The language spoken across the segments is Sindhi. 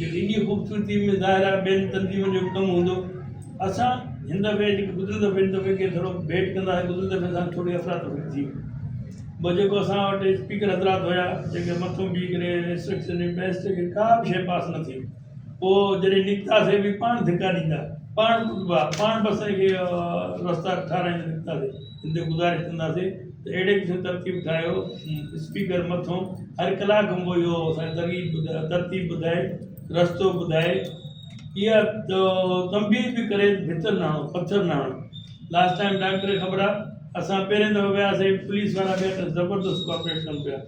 جو ايڏي خوبصورتي ۾ ظاهر آهي ٻين تنظيمن جو به ڪم هوندو. اسان هن دفعي جيڪي گذريل دفعي هن دفعي کي ٿورو ڀيٽ ڪنداسين گذريل دفعي اسان کي ٿوري افرا تفري ٿي ٻه جيڪو اسان وٽ اسپيڪر حضرات هيا جيڪي مٿو بيهي ڪري انسٽرڪشن ڏين پيا اسٽيج کي ڪا به شيء پاس نه ٿي پوء جڏهن نڪتاسين به پاڻ ڌڪا ڏيندا پاڻ ڪٽبا پاڻ بسن کي رستا ٺاراهيندا نڪتاسين ان تي گذارش ڪنداسي ته اهڙي قسم ترتيب ٺاهيو اسپيڪر مٿون هر ڪلاڪ کن پوء اهو اسان کي ترتيب ٻڌائي رستو ٻڌائي اها تنبيهه به ڪري ڀتر نه هڻو پٿر نه هڻو لاسٽ ٽائم ڊاڪٽر کي خبر آهي اسان پهرين دفعو وياسي پوليس وارا بي حد زبردست ڪوآپريٽ ڪن پيا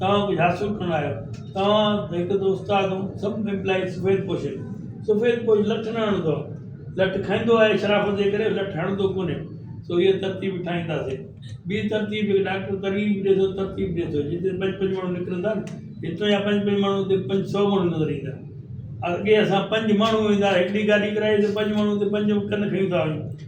توهان ڪجهه حاصل ڪرڻ آيو توهان ته هڪ ته استاد هون سڀ امپلائيز سفيد پوشن سفيد پوش لٺ نه هڻندو آهي لٺ کائيندو آهي شرافت جي ڪري لٺ هڻندو ڪونهي سو هيء ترتيب ٺاهينداسي ٻي ترتيب جيڪي ڊاڪٽر ترغيب ڏئي ٿو ترتيب ڏئي ٿو جتي پنج پنج ماڻهو نڪرن ٿا هتان جا پنج پنج ماڻهو هتي پنج سؤ ماڻهو نظر ايندا اڳي اسان پنج ماڻهو ويندا هڪڙي گاڏي ڪرائي ته پنج ماڻهو هتي پنج ڪن کڻي ٿا وڃون